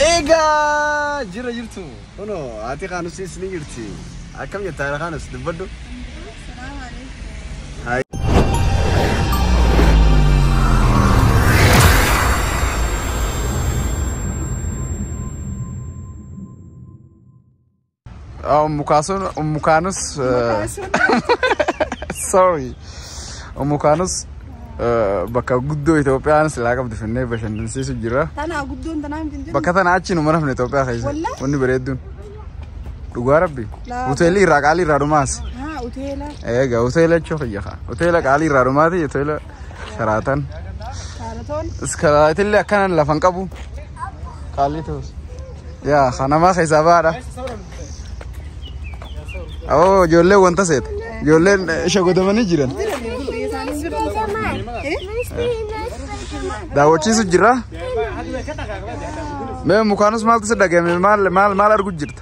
Egaa jira jirtu kuno haati kaanusis ni jirti akkam jettaa haadha kaanus dubbadhu. Hai. Ummu Kaasuun Ummu Kaanus sorry Ummu Kaanus bakka guddoo Itoophiyaan silaa qabdu finnee bashannansiisu jira. Tanaa guddoon tanaa hin jirtu. Bakka tana achi numa rafne Itoophiyaa keessa Wallah? wanni bareedduun dhugaa rabbi Laa- hoteelli irraa qaalii irraa dhumaas Haa hoteela. eega hoteela jechuu kiyya kaa hoteela qaalii irraa dhumaati hoteela Karaatan. Kaaratoon. Iskaraatillee akkanan lafan qabu. Qaalli ta'us. Yaa kanamaa keessaa baadha. Awoo ijoollee wanta seeta. Ijoolleen shagodamanii jiran. Daawwachiisu jira. Mee mukaanus maaltu si dhagahame maal maal maal argu jirta?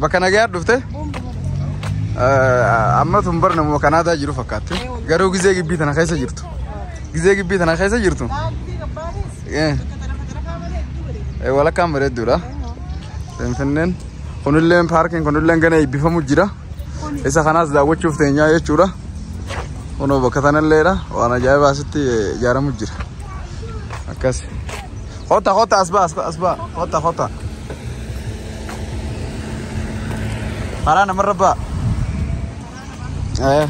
Bakka nagayaa dhufte amma tun bar namuma kanaadaa jiru fakkaatti. Garuu gizee gibbii tana keessa jirtu. Gizee gibbii tana keessa jirtu. Eh, eh, Walakkaan bareedduudha. Finfinneen kunilleen paarkiin kunilleen gana eebbifamu jira. Isa kanaas daawwachuuf teenyaa jechuudha. Kunoo bakka tanalleedha. Waan ajaa'ibaa asitti eh, ijaaramu jira. Akkas. Kota kota asbaa asbaa kota kota. karaa namarra ba'a. Eh.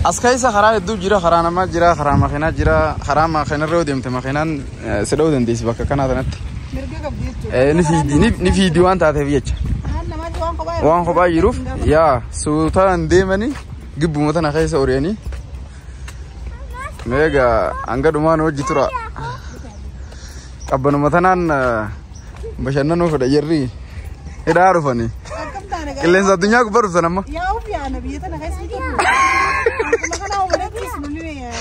As keessa karaa hedduu jira, karaa namaa jira, karaa makiinaa jira, karaa makiinarra yoo deemte makiinaan eh, si dha'uu dandeessi bakka kanaa sanatti. Mirga qabdi jechuudha. Eh, Ni fiidi, ni- ni fiidi waan taateef jecha. Karaan namaatti waan kophaa Waan kophaa jiruuf yaa suutaan deemanii gibbuma tana keessa ori'anii meega hanga dhumaan hojji tura. Qabbanuma tanaan bashannanuu fedha jarri hidhaa dhufanii. Akkam taane gaa'ela. Qilleensa addunyaa gubbaa dhuftan amma. Yaa of yaana biyya tana keessa hin turre. Akkuma kana hubatetti isin ni beekan.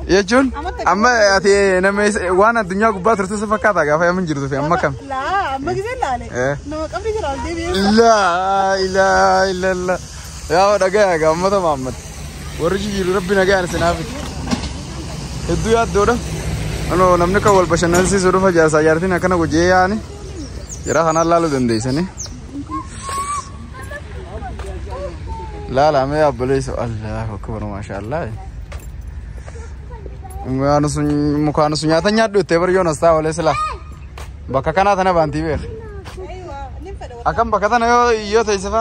Jechuun amma ati nama isa- waan addunyaa gubbaa turte si fakkaata gaafa yamin jirtu fi amma kam. Laa amma gisee laale. Eh. Nama qabdi jira ol deebi'ee. Laa ilaa ilaa ilaa. Yaa dhagaya egaa uummata Mahammad. Warri jijjiiru rabbi nagaan isin haa fidu. Hedduu yaaddoodha. Ano namni kan wal bashannansiisu dhufa jaarsaa jaartiin akkana gojjee yaa'ani. Jara kanaan laaluu dandeessanii. Laala mee abboleessu Allahu akbar maashaallah. Mukaan sun mukaan sun nyaata nyaadhu itti bari yoon asxaa olee silaa. Bakka kanaa tana baantii beeka. Akkam bakka tana yoo yoo ta'e sifa.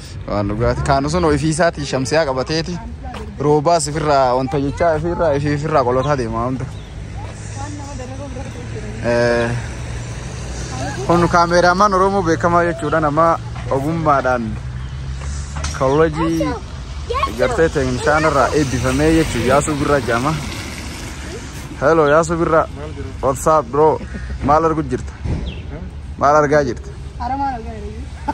Waan dhugaati. Kaan sun ofiisaatii shamsiyaa qabateeti. Roobaas ifirraa wanta jechaa ifirraa ifii ifirraa qolotaa deema hunda. Eh, Kun kaameeraamaan Oromoo beekamaa jechuudha nama ogummaadhaan koolleejii gartee teeknishaan irraa eebbifamee jechuudha Yaasuu Birraa jedhama. Hello Yaasuu Birraa. What's up bro? Maal arguu jirta? Maal argaa jirta? Aramaan argaa jirra.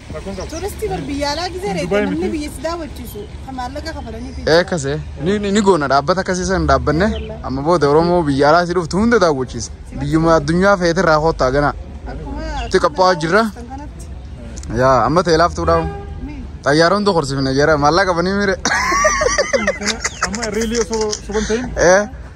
Rakkoon qabu. Turistii bar biyya alaa gisee reete Dubai namni miti. biyya si daawwachiisu kan maallaqa kafalanii fi Ee akkasee ni, ni, ni goona dhaabbata akkasii sana dhaabbanne amma booda Oromoo biyya alaa si dhuftu hunda daawwachiisa. Biyyuma addunyaa feete irraa koottaa ganaa. akkuma Itti qophaa'aa jirra. kan kanatti Yaa amma ta'e laaftuu dhaabu. mee Xayyaara hunda korsiifne jara maallaqa qabanii mire. Amma riilii osoo soban ta'in Ee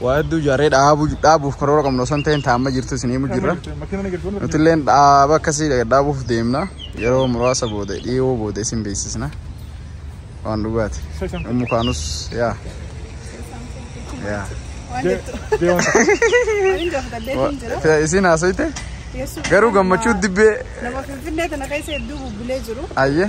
Waa hedduu ijaarree dhaabuu dhaabuuf karoora qabnu osoo hin ta'in taa'amma jirtu isin himu jirra. Nuti illee dhaaba akkasii dhaabuuf deemna. Yeroo muraasa booda dhiyoo booda isin beeksisna. Waan dhugaati. Ummu kaanus yaa. Yaa. Isin haasoyte garuu gammachuu dibbee. Nama finfinnee tana keessa hedduu bubbulee jiru. Ayyee.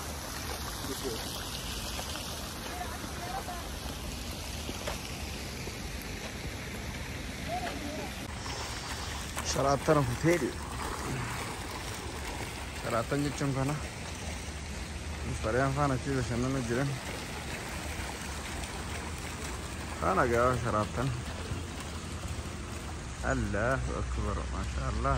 Saraattana kutee dee. Saraattan jechuun kana. Sareen faana achi bashannana jiran. Kana gaafa saraattan. Allahu akbar maashaa Allah.